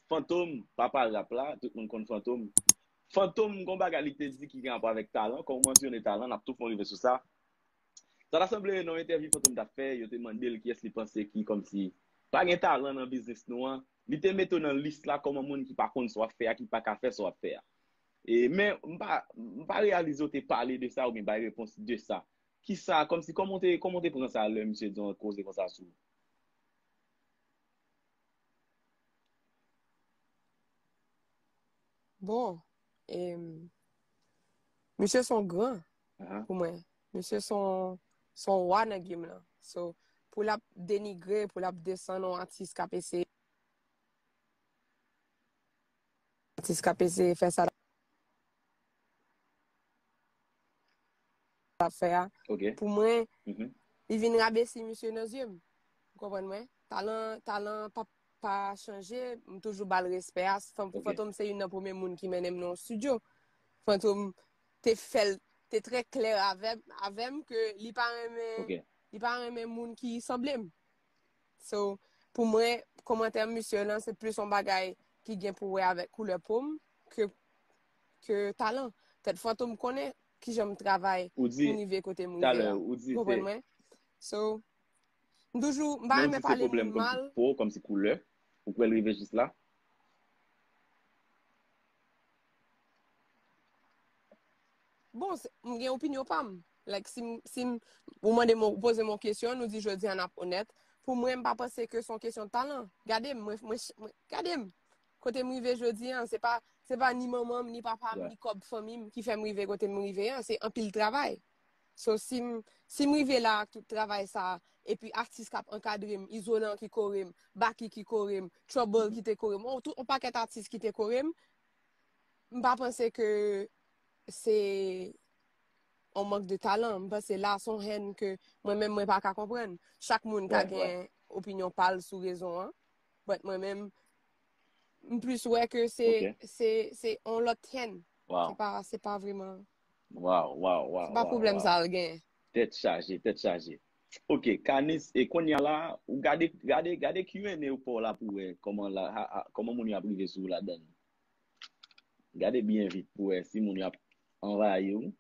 Fantom, papa rap la, tout moun konn Fantom. Fantom gon bagay li te di ki gen rapò avèk talan, kòw mansyone talan, nap tou fon rive sou sa. Sa ta sanble nan yon entèvyou Fantom tap fè, yo te mandel kiyès li panse ki kòmsi pa gen talan nan biznis nou an, li te mete w nan lis la kòm yon moun ki pa konn sa wap fè a, ki paka fè sa wap fè a. E men, m pa, m pa reyalize w te pale de sa oubyen bay repons de sa. Kisa, kòmsi, kòman w te, kòman w te pran sa lè misye di yon koze konsa sou ou? Bon, e, misye son gran uh-huh. pou mwen. Misye son, son wa nan gim lan. So, pou l ap denigre, pou l ap desan non atis kap ese. atis kap eseye fè sa lap fè a pou mwen li vin rabesi misye nan zye m ou konprann mwen talan pap pa chanje m toujou bal respè a fantom se yon nan premye moun ki mennen m nan yon studio fantom te fèl te trè klè avèm ke li pa renmen moun ki sanble m So, pou mwen, komantè misye lan, se plis yon bagay ki gen pou wè avèk koulè pom, ke, ke talan. Tèt fantom konnen ki jan m travay Ou di, pou m rive kote m rive talè, la. ou di Ou se, konprann mwen? So, m toujou, m pa non, ou renmen di se pale pwoblèm moun kòmsi mal. po, kòmsi koulè, ou kwè l rive jis la? Bon, m gen opinyon pa m. Like, si m, si m, ou mande m, ou poze m yon kesyon, nou di jodi an ap onèt, pou mwen m pa panse ke son kesyon talan. Gade m, mwen, mwen, gade m. Kote m rive jodi an, se pa, se pa ni manman m, ni papa m, ni kòb fanmi m ki fè m rive kote m rive an, se anpil travay. So sim sim rive la ak tout travay sa epi atis kap ankadrem izolan ki korem baky ki korem trouble ki te korem on, on pakèt atis ki te korem m pa panse ke se on mank de talan m panse la son hen ke mwen menm mwen pa ka konprann chak moun ka gen opinyon pal sou rezon an but mwen menm m plis wè ke se se se on lot hen se pa se pa vreman Waw waw waw. Se pa pwoblèm sa l gen. Tèt chaje tèt chaje. Ok kanis e konnya la ou gade gade gade Q&A ou paw la pou wè kòman la kòman moun yo ap rive sou ou ladann. Gade byen vit pou wè si moun yo ap anvayi ou.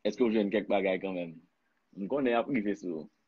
Eske ou jwenn kèk bagay kanmenm. M konnen yap rive sou ou.